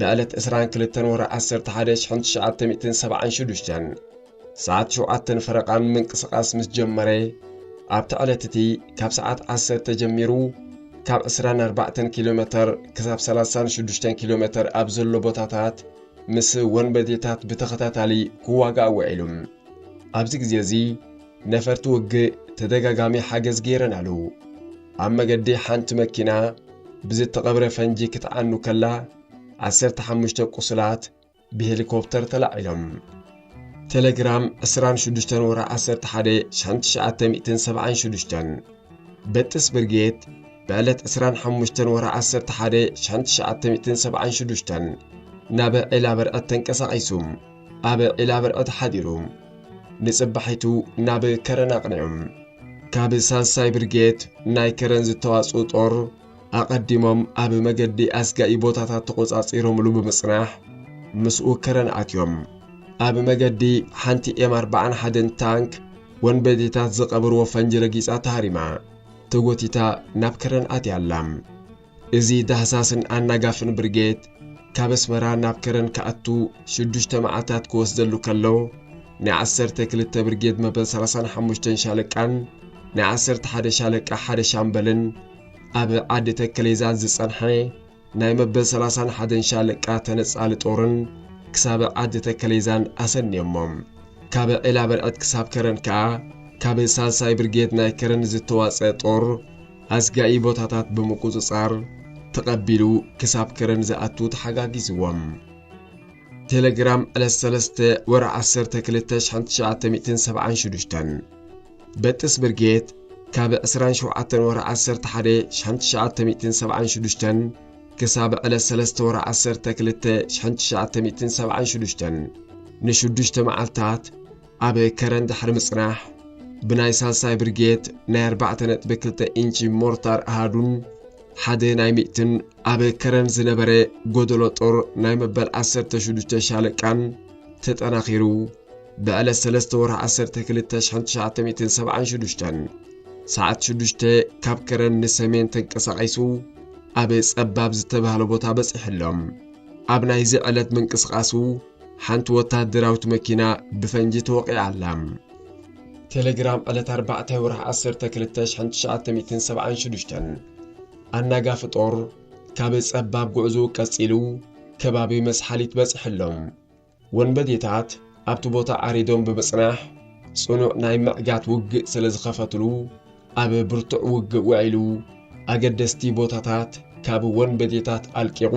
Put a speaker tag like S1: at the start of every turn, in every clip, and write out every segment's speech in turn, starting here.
S1: ብዕለት ዕስራን ክልተን ወርሒ ዓሰርተ ሓደ ሽሕን ትሽዓተ ሚእትን ሰብዓን ሽዱሽተን ሰዓት ሸውዓተን ፈረቓን ምንቅስቓስ ምስ ጀመረ ኣብቲ ዕለት እቲ ካብ ሰዓት ዓሰርተ ጀሚሩ ካብ 24 ኪሎ ሜተር ክሳብ 36 ኪሎ ሜተር ኣብ ዘሎ ቦታታት ምስ ወንበዴታት ብተኸታታሊ ክዋጋእ ውዒሉ ኣብዚ ግዜ እዚ ነፈርቲ ውግእ ተደጋጋሚ ሓገዝ ገይረን ኣለዉ። ኣብ መገዲ ሓንቲ መኪና ብዝተቐብረ ፈንጂ ክትዓኑ ከላ ዓሰርተ ሓሙሽተ ቁሱላት ብሄሊኮፕተር ተላዒሎም። ቴሌግራም ዕስራን ሽዱሽተን ወርሒ ዓሰርተ ሓደ ሽሕን ትሽዓተ ሚእትን ሰብዓን ሽዱሽተን በጥስ ብርጌድ ብዕለት ዕስራን ሓሙሽተን ወርሒ ዓሰርተ ሓደ ሽሕን ትሽዓተ ሚእትን ሰብዓን ሽዱሽተን ናብ ዒላ በርዕድ ተንቀሳቒሱ። ኣብ ዒላብርዐ ተሓዲሩ ንጽባሒቱ ናብ ከረን ኣቕኒዑ ካብ ሳልሳይ ብርጌድ ናይ ከረን ዝተዋጽኡ ጦር ኣቐዲሞም ኣብ መገዲ ኣስጋኢ ቦታታት ተቖጻጺሮምሉ ብምጽናሕ ምስኡ ከረን ኣትዮም ኣብ መገዲ ሓንቲ ኤም ኣርባዓን ሓደን ታንክ ወንበዴታት ዝቐብርዎ ፈንጂ ረጊጻ ተሃሪማ ተጎቲታ ናብ ከረን ኣትያ ኣላ። እዚ ዳህሳስን ኣናጋፍን ብርጌድ ካብ ኣስመራ ናብ ከረን ክኣቱ ሽዱሽተ መዓልታት ክወስደሉ ከሎ፣ ናይ ዓሰርተ ክልተ ብርጌድ መበል ሰላሳን ሓሙሽተን ሻለቃን ናይ ዓሰርተ ሓደ ሻለቃ ሓደ ሻምበልን ኣብ ዓዲ ተከሌዛን ዝጸንሐ ናይ መበል ሰላሳን ሓደን ሻለቃ ተነጻሊ ጦርን ክሳብ ዓዲ ተከሌዛን ኣሰንዮሞም። ካብ ዒላበርዕድ ክሳብ ከረን ከኣ ካብ ሳልሳይ ብርጌድ ናይ ከረን ዝተዋጽአ ጦር ኣስጋኢ ቦታታት ብምቁጽጻር ተቐቢሉ ክሳብ ከረን ዝኣቱ ተሓጋጊዝዎም። ቴሌግራም ዕለት ሰለስተ ወርሒ ዓሰርተ ክልተ ሽሕን ትሽዓተ ሚእትን ሰብዓን ሽዱሽተን በጥስ ብርጌድ ካብ ዕስራን ሸውዓተን ወርሒ ዓሰርተ ሓደ ሽሕን ትሽዓተ ሚእትን ሰብዓን ሽዱሽተን ክሳብ ዕለት ሰለስተ ወርሒ ዓሰርተ ክልተ ሽሕን ትሽዓተ ሚእትን ሰብዓን ሽዱሽተን ንሽዱሽተ መዓልታት ኣብ ከረን ድሕሪ ምጽናሕ ብናይ ሳልሳይ ብርጌድ ናይ ኣርባዕተ ነጥቢ ክልተ ኢንቺ ሞርታር ኣሃዱን ሓደ ናይ ሚእትን ኣብ ከረን ዝነበረ ጎደሎ ጦር ናይ መበል 16 ሻለቃን ተጠናኺሩ ብዕለት 3 ወርሒ 12,976 ሰዓት 6 ካብ ከረን ንሰሜን ተንቀሳቒሱ ኣብ ጸባብ ዝተባህለ ቦታ በጺሑ ኣሎ ኣብ ናይዚ ዕለት ምንቅስቓሱ ሓንቲ ወተሃደራዊት መኪና ብፈንጂ ተወቒዓ ኣላ። ቴሌግራም ዕለት ኣርባዕተ ወርሒ ዓሰርተ ክልተ ሽሕን ትሽዓተ ሚእትን ሰብዓን ሽዱሽተን ኣናጋፊ ጦር ካብ ጸባብ ጉዕዝኡ ቀጺሉ ከባቢ መስሓሊት በጽሐሎም። ወንበዴታት ኣብቲ ቦታ ዓሪዶም ብምጽናሕ ጽኑዕ ናይ ምዕጋት ውግእ ስለ ዝኸፈትሉ ኣብ ብርቱዕ ውግእ ውዒሉ ኣገደስቲ ቦታታት ካብ ወንበዴታት ኣልቂቑ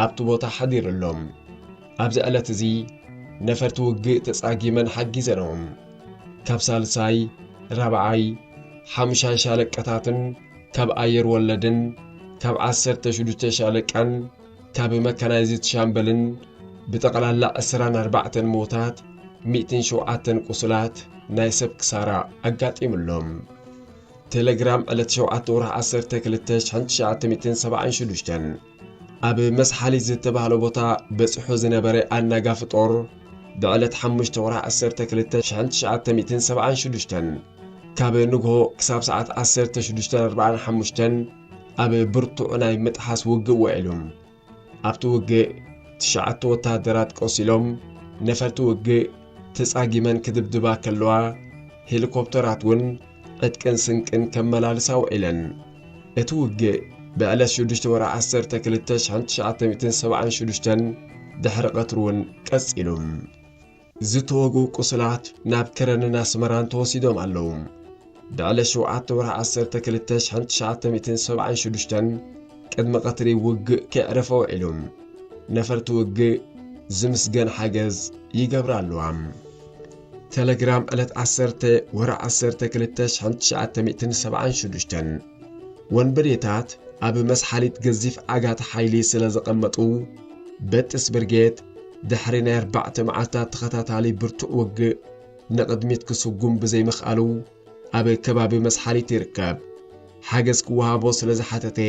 S1: ኣብቲ ቦታ ሓዲሩ ኣሎ። ኣብዚ ዕለት እዚ ነፈርቲ ውግእ ተጻጊመን ሓጊዘንኦም። ካብ ሳልሳይ፣ ራብዓይ፣ ሓሙሻይ ሻለቀታትን ካብ ኣየር ወለድን ካብ ዓሰርተ ሽዱሽተ ሻለቃን፣ እታ ብመካናይዝድ ሻምበልን ብጠቕላላ ዕስራን ኣርባዕተን ሞታት ሚእትን ሸውዓተን ቁስላት ናይ ሰብ ክሳራ ኣጋጢሙሎም ቴሌግራም ዕለት ሸውዓተ ወርሒ ዓሰርተ ክልተ ሽሕን ትሽዓተ ሚእትን ሰብዓን ሽዱሽተን ኣብ መስሓሊ ዝተባህለ ቦታ በፂሑ ዝነበረ ኣናጋፊ ጦር ብዕለት ሓሙሽተ ወርሒ ዓሰርተ ክልተ ሽሕን ትሽዓተ ሚእትን ሰብዓን ሽዱሽተን ካብ ንግሆ ክሳብ ሰዓት ዓሰርተ ሽዱሽተን ኣርብዓን ሓሙሽተን ኣብ ብርቱዕ ናይ ምጥሓስ ውግእ ውዒሉ። ኣብቲ ውግእ ትሽዓተ ወተሃደራት ቆሲሎም፣ ነፈርቲ ውግእ ተጻጊመን ክድብድባ ከለዋ፣ ሄሊኮፕተራት እውን ዕጥቅን ስንቅን ከመላልሳ ውዒለን። እቲ ውግእ ብዕለት ሽዱሽተ ወርሒ ዓሰርተ ክልተ ሽሕን ትሽዓተ ሚእትን ሰብዓን ሽዱሽተን ድሕሪ ቀትሪ እውን ቀጺሉ። ዝተወግኡ ቁስላት ናብ ከረንን ኣስመራን ተወሲዶም ኣለዉ። ብዕለት ሸውዓተ ወርሒ ዓሰርተ ክልተ ሽሕን ትሽዓተ ሚእትን ሰብዓን ሽዱሽተን ቅድሚ ቀትሪ ውግእ ከይዕረፈ ውዒሉ። ነፈርቲ ውግእ ዝምስገን ሓገዝ ይገብራ ኣለዋ። ተለግራም ዕለት ዓሰርተ ወርሒ ዓሰርተ ክልተ ሽሕን ትሽዓተ ሚእትን ሰብዓን ሽዱሽተን ወንበዴታት ኣብ መስሓሊት ገዚፍ ዓጋቲ ሓይሊ ስለ ዘቐመጡ በጥስ ብርጌድ ድሕሪ ናይ ኣርባዕተ መዓልታት ተኸታታሊ ብርቱዕ ውግእ ንቕድሚት ክስጉም ብዘይምኽኣሉ ኣብ ከባቢ መስሓሊት ይርከብ ሓገዝ ክወሃቦ ስለ ዝሓተተ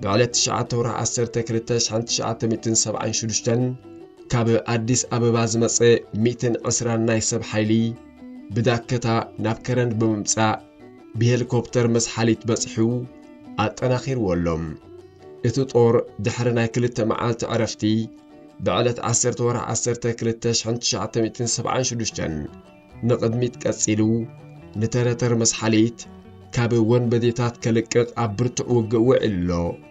S1: ብዕለት 9 ወርሒ 10 2976 ካብ ኣዲስ ኣበባ ዝመፀ 120 ናይ ሰብ ሓይሊ ብዳከታ ናብ ከረን ብምምፃእ ብሄሊኮፕተር መስሓሊት በጺሑ ኣጠናኺርዎ ኣሎ። እቲ ጦር ድሕሪ ናይ ክልተ መዓልቲ ዕረፍቲ ብዕለት 10 ወርሒ 10 2976 ንቕድሚት ቀጺሉ ንተረተር መስሓሊት ካብ ወንበዴታት ከልቅቕ ኣብ ብርቱዕ ውግእ ውዒሉ ኣሎ።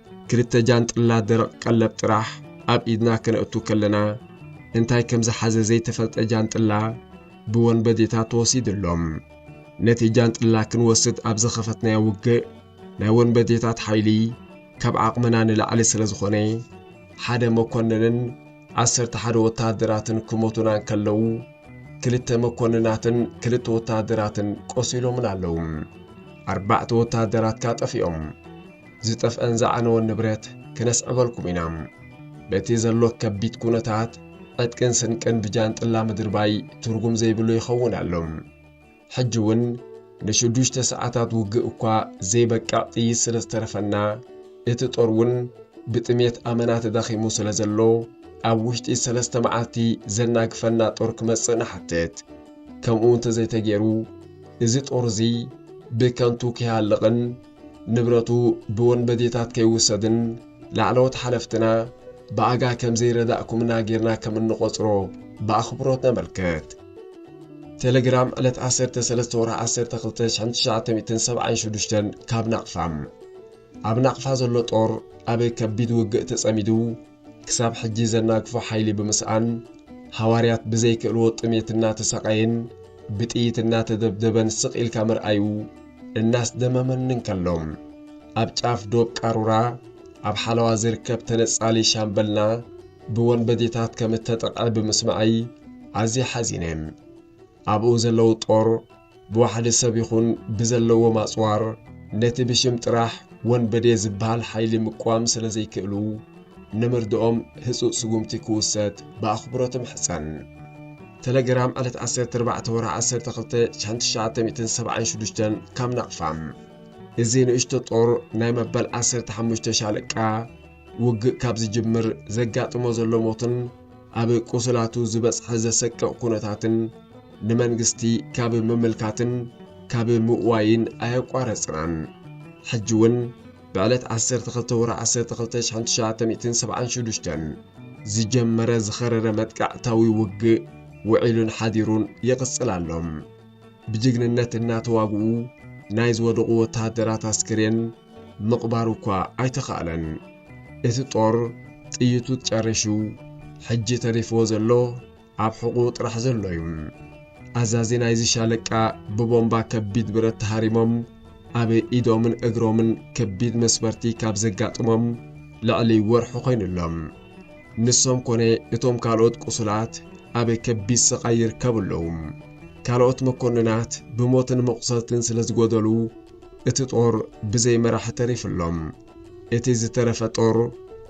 S1: ክልተ ጃንጥላ ደረቕ ቀለብ ጥራሕ ኣብ ኢድና ከነእቱ ከለና እንታይ ከም ዝሓዘ ዘይተፈልጠ ጃንጥላ ብወንበዴታት ተወሲዱ ኣሎ። ነቲ ጃንጥላ ክንወስድ ኣብ ዝኸፈትናዮ ውግእ ናይ ወንበዴታት ሓይሊ ካብ ዓቕምና ንላዕሊ ስለ ዝኾነ ሓደ መኮንንን ዓሰርተ ሓደ ወተሃደራትን ክሞቱና እንከለዉ ክልተ መኮንናትን ክልተ ወተሃደራትን ቆሲሎምን ኣለዉ። ኣርባዕተ ወተሃደራትካ ጠፊኦም። ዝጠፍኣን ዝዓነወን ንብረት ክነስዕበልኩም ኢና። በቲ ዘሎ ከቢድ ኩነታት ዕጥቅን ስንቅን ብጃንጥላ ምድርባይ ትርጉም ዘይብሉ ይኸውን ኣሎ። ሕጂ እውን ንሽዱሽተ ሰዓታት ውግእ እኳ ዘይበቅዕ ጥይት ስለ ዝተረፈና እቲ ጦር እውን ብጥሜት ኣመና ተዳኺሙ ስለ ዘሎ ኣብ ውሽጢ ሰለስተ መዓልቲ ዘናግፈና ጦር ክመጽእ ንሓትት። ከምኡ እንተዘይተገይሩ እዚ ጦር እዚ ብከንቱ ክሃልቕን ንብረቱ ብወንበዴታት ከይውሰድን ላዕለዎት ሓለፍትና ብኣጋ ከም ዘይረዳእኩምና ጌርና ከም እንቖጽሮ ብኣኽብሮት ነመልክት። ቴለግራም ዕለት ዓሰርተ ሰለስተ ወርሒ ዓሰርተ ክልተ ሽሕን ትሽዓተ ሚእትን ሰብዓን ሽዱሽተን ካብ ናቕፋ ኣብ ናቕፋ ዘሎ ጦር ኣብ ከቢድ ውግእ ተጸሚዱ ክሳብ ሕጂ ዘናግፎ ሓይሊ ብምስኣን ሃዋርያት ብዘይክእልዎ ጥሜት እናተሰቓየን ብጥይት እናተደብደበን ስቕ ኢልካ ምርኣዩ እናስደመመኒ እንከሎ ኣብ ጫፍ ዶብ ቃሩራ ኣብ ሓለዋ ዝርከብ ተነጻሊ ሻምበልና ብወንበዴታት ከም እተጠቕዐ ብምስማዐይ ኣዝየ ሓዚነ። ኣብኡ ዘለዉ ጦር ብዋሕዲ ሰብ ይኹን ብዘለዎም ኣጽዋር ነቲ ብሽም ጥራሕ ወንበዴ ዝበሃል ሓይሊ ምቅዋም ስለ ዘይክእሉ ንምርድኦም ህጹጽ ስጉምቲ ክውሰድ ብኣኽብሮት እምሕጸን። ተለግራም ዕለት 14 ወርሒ 12 1976 ካብ ናቕፋ እዚ ንእሽቶ ጦር ናይ መበል ዓሰርተ ሓሙሽተ ሻለቃ ውግእ ካብ ዝጅምር ዘጋጥሞ ዘሎ ሞትን ኣብ ቁስላቱ ዝበጽሐ ዘሰቅቕ ኩነታትን ንመንግስቲ ካብ ምምልካትን ካብ ምእዋይን ኣየቋረጽናን። ሕጂ እውን ብዕለት 12 ወርሒ 12 1976 ዝጀመረ ዝኸረረ መጥቃዕታዊ ውግእ ውዒሉን ሓዲሩን ይቕጽል ኣሎ። ብጅግንነት እናተዋግኡ ናይ ዝወደቑ ወተሃደራት ኣስከሬን ምቕባሩ እኳ ኣይተኻእለን። እቲ ጦር ጥይቱ ጨሪሹ ሕጂ ተሪፍዎ ዘሎ ኣብ ሕቑኡ ጥራሕ ዘሎ እዩ። ኣዛዚ ናይዚ ሻለቃ ብቦምባ ከቢድ ብረት ተሃሪሞም ኣብ ኢዶምን እግሮምን ከቢድ መስበርቲ ካብ ዘጋጥሞም ልዕሊ ወርሒ ኮይኑ ኣሎ። ንሶም ኮነ እቶም ካልኦት ቁሱላት ኣብ ከቢድ ስቓይ ይርከቡ ኣለዉ። ካልኦት መኮንናት ብሞትን መቑሰልትን ስለ ዝጎደሉ እቲ ጦር ብዘይ መራሒ ተሪፉ ኣሎ። እቲ ዝተረፈ ጦር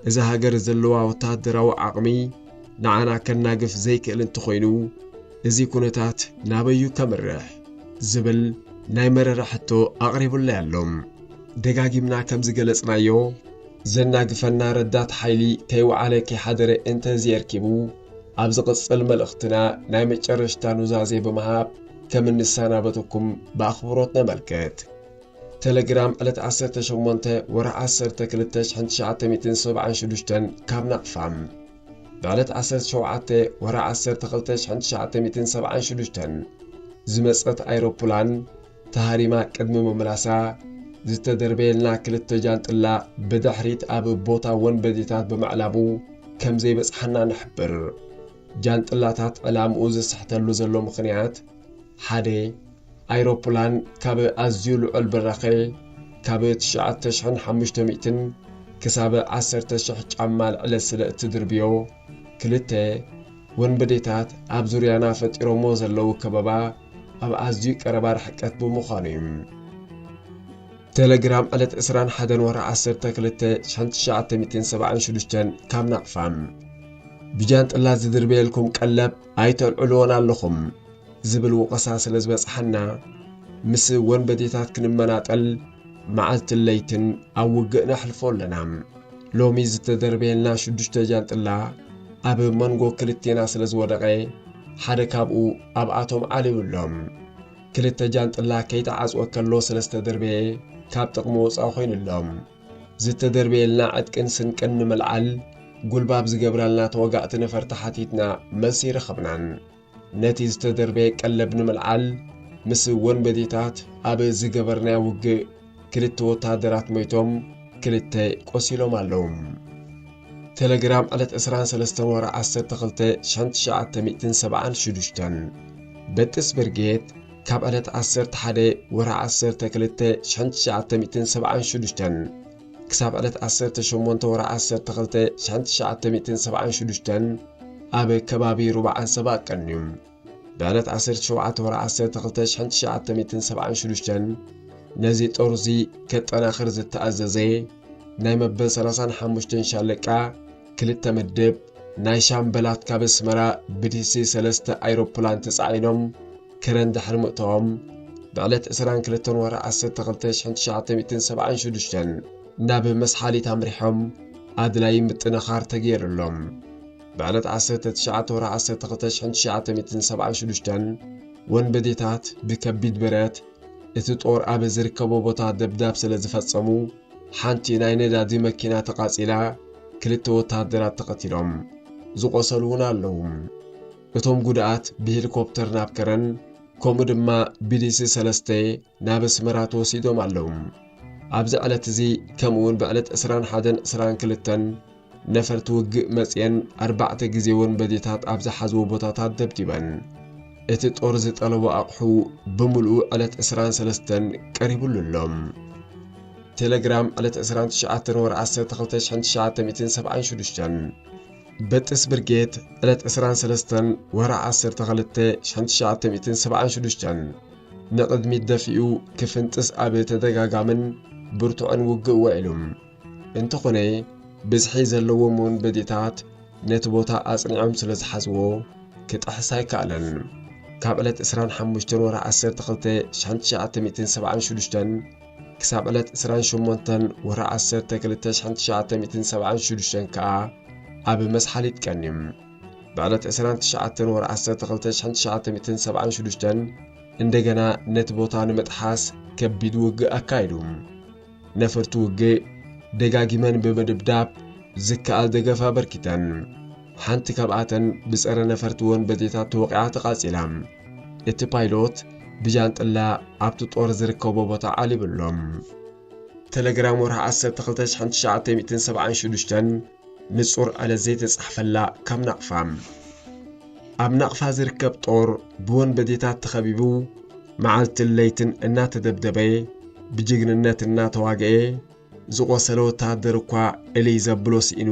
S1: እዛ ሃገር ዘለዋ ወተሃደራዊ ዓቕሚ ንዓና ከናግፍ ዘይክእል እንተኾይኑ እዚ ኩነታት ናበዩ ከምርሕ? ዝብል ናይ መረረ ሕቶ ኣቕሪቡለይ ኣሎ። ደጋጊምና ከም ዝገለጽናዮ ዘናግፈና ረዳት ሓይሊ ከይወዓለ ከይሓደረ እንተዝየርኪቡ ኣብ ዝቕጽል መልእኽትና ናይ መጨረሽታ ኑዛዜ ብምሃብ ከም እንሰናበተኩም ብኣኽብሮት ነመልክት። ተለግራም ዕለት ዓሰርተ ሸሞንተ ወርሒ ዓሰርተ ክልተ ሽሕን ትሽዓተ ሚእትን ሰብዓን ሽዱሽተን ካብ ናቕፋ ብዕለት ዓሰርተ ሸውዓተ ወርሒ ዓሰርተ ክልተ ሽሕን ትሽዓተ ሚእትን ሰብዓን ሽዱሽተን ዝመጸት ኣይሮፕላን ተሃሪማ ቅድሚ ምምላሳ ዝተደርበየልና ክልተ ጃንጥላ ብድሕሪት ኣብ ቦታ ወንበዴታት ብምዕላቡ ከም ዘይበጽሓና ንሕብር። ጃንጥላታት ዕላምኡ ዝስሕተሉ ዘሎ ምኽንያት ሓደ ኣይሮፕላን ካብ ኣዝዩ ልዑል ብራኸ ካብ 9500 ክሳብ 10,000 ጫማ ልዕለ ስለ እትድርብዮ፣ ክልተ ወንበዴታት ኣብ ዙርያና ፈጢሮሞ ዘለዉ ከበባ ኣብ ኣዝዩ ቀረባ ርሕቀት ብምዃኑ እዩ። ቴሌግራም ዕለት 21 ወርሒ 12 1976 ካብ ናቕፋ ብጃንጥላ ዝድርበየልኩም ቀለብ ኣይተልዕልዎን ኣለኹም ዝብል ወቐሳ ስለ ዝበጽሓና ምስ ወንበዴታት ክንመናጠል መዓልትን ለይትን ኣብ ውግእ ነሕልፎ ኣለና። ሎሚ ዝተደርበየልና ሽዱሽተ ጃንጥላ ኣብ መንጎ ክልቴና ስለ ዝወደቐ ሓደ ካብኡ ኣብኣቶም ዓልዩ ኣሎ። ክልተ ጃንጥላ ከይተዓጽወ ከሎ ስለ ዝተደርበየ ካብ ጥቕሚ ወጻኢ ኮይኑ ኣሎ። ዝተደርበየልና ዕጥቅን ስንቅን ንምልዓል ጉልባብ ዝገብራልና ተወጋእቲ ነፈርቲ ሓቲትና መልሲ ረኸብናን ነቲ ዝተደርበየ ቀለብ ንምልዓል ምስ ወንበዴታት ኣብ ዝገበርናዮ ውግእ ክልተ ወታደራት ሞይቶም ክልተ ቆሲሎም ኣለዉ። ቴሌግራም ዕለት 23 ወር 12 1976 በጥስ ብርጌድ ካብ ዕለት ዓሰርተ ሓደ ወርሒ ዓሰርተ ክልተ ሽሕን ትሽዓተ ሚእትን ሰብዓን ሽዱሽተን ክሳብ ዕለት ዓሰርተ ሸሞንተ ወርሒ ዓሰርተ ክልተ ሽሕን ትሽዓተ ሚእትን ሰብዓን ሽዱሽተን ኣብ ከባቢ ሩባ ዓንሰባ ቀንዩ ብዕለት ዓሰርተ ሸውዓተ ወርሒ ዓሰርተ ክልተ ሽሕን ትሽዓተ ሚእትን ሰብዓን ሽዱሽተን ነዚ ጦር'ዚ ከጠናኽር ዝተኣዘዘ ናይ መበል ሰላሳን ሓሙሽተን ሻለቃ ክልተ ምድብ ናይ ሻምበላት ካብ ኣስመራ ብዲሲ ሰለስተ ኣይሮፕላን ተጻዒኖም ከረን ድሕሪ ምእተዎም ብዕለት ዕስራን ክልተን ወርሒ ዓሰርተ ክልተ ሽሕን ትሽዓተ ሚእትን ሰብዓን ሽዱሽተን ናብ መስሓሊት ኣምሪሖም ኣድላዪ ምጥንኻር ተገይሩሎም ብዕለት ዓሰርተ ትሽዓተ ወርሒ ዓሰርተ ክልተ ሽሕን ትሽዓተ ሚእትን ሰብዓን ሽዱሽተን ወንበዴታት ብከቢድ ብረት እቲ ጦር ኣብ ዝርከቦ ቦታ ደብዳብ ስለ ዝፈጸሙ ሓንቲ ናይ ነዳዲ መኪና ተቓጺላ ክልተ ወተሃደራት ተቐቲሎም፣ ዝቖሰሉ እውን ኣለዉ። እቶም ጉድኣት ብሂሊኮፕተር ናብ ከረን ከምኡ ድማ ብዲሲ ሰለስተ ናብ ኣስመራ ተወሲዶም ኣለዉ። ኣብዚ ዕለት እዚ ከምኡውን ብዕለት ዕስራን ሓደን ዕስራን ክልተን ነፈርቲ ውግእ መጽየን ኣርባዕተ ግዜ ወንበዴታት ኣብ ዝሓዝዎ ቦታታት ደብዲበን። እቲ ጦር ዝጠለቦ ኣቕሑ ብምልኡ ዕለት ዕስራን ሰለስተን ቀሪቡሉ ኣሎ። ቴለግራም ዕለት ዕስራን ትሽዓተን ወርሒ ዓሰርተ ክልተ ሽሕን ትሽዓተ ሚእትን ሰብዓን ሽዱሽተን በጥስ ብርጌድ ዕለት ዕስራን ሰለስተን ወርሒ ዓሰርተ ክልተ ሽሕን ትሽዓተ ሚእትን ሰብዓን ሽዱሽተን ንቕድሚት ደፊኡ ክፍንጥስ ኣብ ተደጋጋምን ብርቱዕን ውግእ ውዒሉ። እንተኾነ ብዝሒ ዘለዎም ወንበዴታት ነቲ ቦታ ኣጽኒዖም ስለ ዝሓዝዎ ክጥሕስ ኣይከኣለን። ካብ ዕለት ዕስራን ሓሙሽተን ወርሒ ዓሰርተ ክልተ ሽሕን ትሽዓተ ሚእትን ሰብዓን ሽዱሽተን ክሳብ ዕለት ዕስራን ሸሞንተን ወርሒ ዓሰርተ ክልተ ሽሕን ትሽዓተ ሚእትን ሰብዓን ሽዱሽተን ከኣ ኣብ መስሓሊጥ ቀንዩ። ብዕለት ዕስራን ትሽዓተን ወርሒ ዓሰርተ ክልተ ሽሕን ትሽዓተ ሚእትን ሰብዓን ሽዱሽተን እንደገና ነቲ ቦታ ንምጥሓስ ከቢድ ውግእ ኣካይዱ። ነፈርቲ ውግእ ደጋጊመን ብምድብዳብ ዝከኣል ደገፍ ኣበርኪተን። ሓንቲ ካብኣተን ብጸረ ነፈርቲ ወንበዴታት ተወቒዓ ተቓጺላ። እቲ ፓይሎት ብጃንጥላ ኣብቲ ጦር ዝርከቦ ቦታ ዓሊቡ ኣሎ። ተለግራም ወርሒ ዓሰርተ ክልተ ሽሕን ትሽዓተ ሚእትን ሰብዓን ሽዱሽተን ንጹር ዕለት ዘይተጻሕፈላ ካብ ናቕፋ። ኣብ ናቕፋ ዝርከብ ጦር ብወንበዴታት ተኸቢቡ መዓልትን ለይትን እናተደብደበ ብጅግንነት እናተዋግኤ ዝቖሰለ ወተሃደር እኳ እልይ ዘብሎ ስኢኑ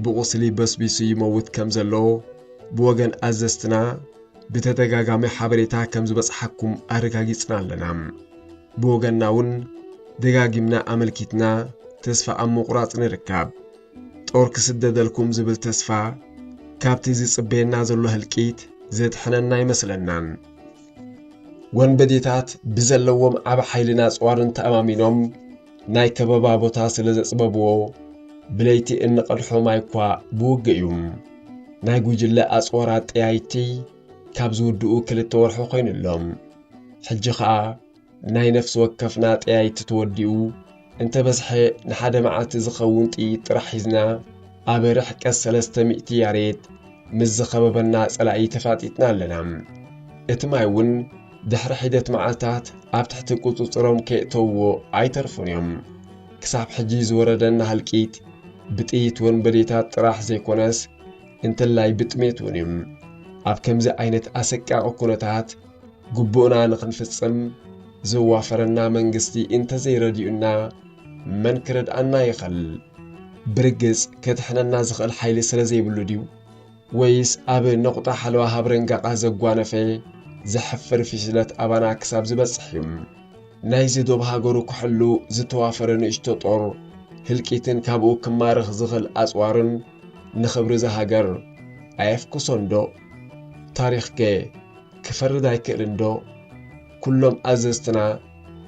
S1: ብቑስሊ በስቢሱ ይመውት ከም ዘሎ ብወገን ኣዘዝትና ብተደጋጋሚ ሓበሬታ ከም ዝበጽሓኩም ኣረጋጊጽና ኣለና። ብወገንና እውን ደጋጊምና ኣመልኪትና ተስፋ ኣብ ምቑራጽ ንርከብ። ጦር ክስደደልኩም ዝብል ተስፋ ካብቲ ዝጽበየና ዘሎ ህልቂት ዘድሕነና ኣይመስለናን። ወንበዴታት ብዘለዎም ዓብ ሓይልን ኣጽዋርን ተኣማሚኖም ናይ ከበባ ቦታ ስለ ዘጽበብዎ ብለይቲ እንቐድሖ ማይ እኳ ብውግእ እዩ። ናይ ጉጅለ ኣጽዋር ኣጠያይቲ ካብ ዝውድኡ ክልተ ወርሑ ኮይኑ ኣሎም ሕጂ ኸኣ ናይ ነፍሲ ወከፍና ጠያይቲ ተወዲኡ እንተ በዝሐ ንሓደ መዓልቲ ዝኸውን ጥይት ጥራሕ ሒዝና ኣብ ርሕቀት ሰለስተ ሚእቲ ያሬት ምስ ዝኸበበና ጸላኢ ተፋጢጥና ኣለና እቲ ማይ እውን ድሕሪ ሒደት መዓልታት ኣብ ትሕቲ ቁጽጽሮም ከየእተውዎ ኣይተርፉን እዮም ክሳብ ሕጂ ዝወረደና ህልቂት ብጥይት ወንበዴታት ጥራሕ ዘይኮነስ እንተላይ ብጥሜት እውን እዩ። ኣብ ከምዚ ዓይነት ኣሰቃቂ ኩነታት ግቡእና ንክንፍጽም ዘዋፈረና መንግስቲ እንተዘይረዲኡና መን ክረድኣና ይኸል? ብርግጽ ከድሕነና ዝኸእል ሓይሊ ስለዘይብሉ ድዩ? ወይስ ኣብ ነቑጣ ሓለዋ ሃብረንጋቓ ዘጓነፈ ዘሕፍር ፍሽለት ኣባና ክሳብ ዝበጽሕ እዩ ናይዚ ዶብ ሃገሩ ክሕሉ ዝተዋፈረ ንእሽቶ ጦር ህልቂትን ካብኡ ክማርኽ ዝኽል ኣጽዋርን ንኽብሪ እዛ ሃገር ኣየፍኩሶንዶ? ታሪኽከ ክፈርድ ኣይክእልንዶ? ኩሎም ኣዘዝትና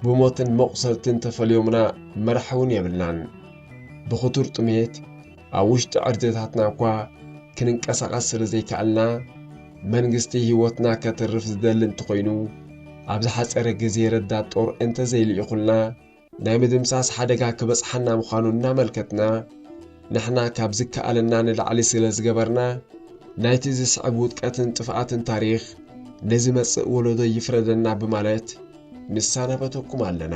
S1: ብሞትን መቑሰልትን ተፈልዮምና መራሒውን የብልናን ብኽቱር ጥሜት ኣብ ውሽጢ ዕርድታትና እኳ ክንንቀሳቐስ ስለ ዘይከኣልና መንግስቲ ህይወትና ከትርፍ ዝደሊ እንተኾይኑ ኣብ ዝሓፀረ ግዜ ረዳት ጦር እንተዘይልኢኹልና ናይ ምድምሳስ ሓደጋ ክበፅሓና ምዃኑ እናመልከትና ንሕና ካብ ዝከኣለና ንላዕሊ ስለ ዝገበርና ናይቲ ዝስዕብ ውድቀትን ጥፍኣትን ታሪኽ ንዝመጽእ ወለዶ ይፍረደና ብማለት ንሳናበተኩም ኣለና።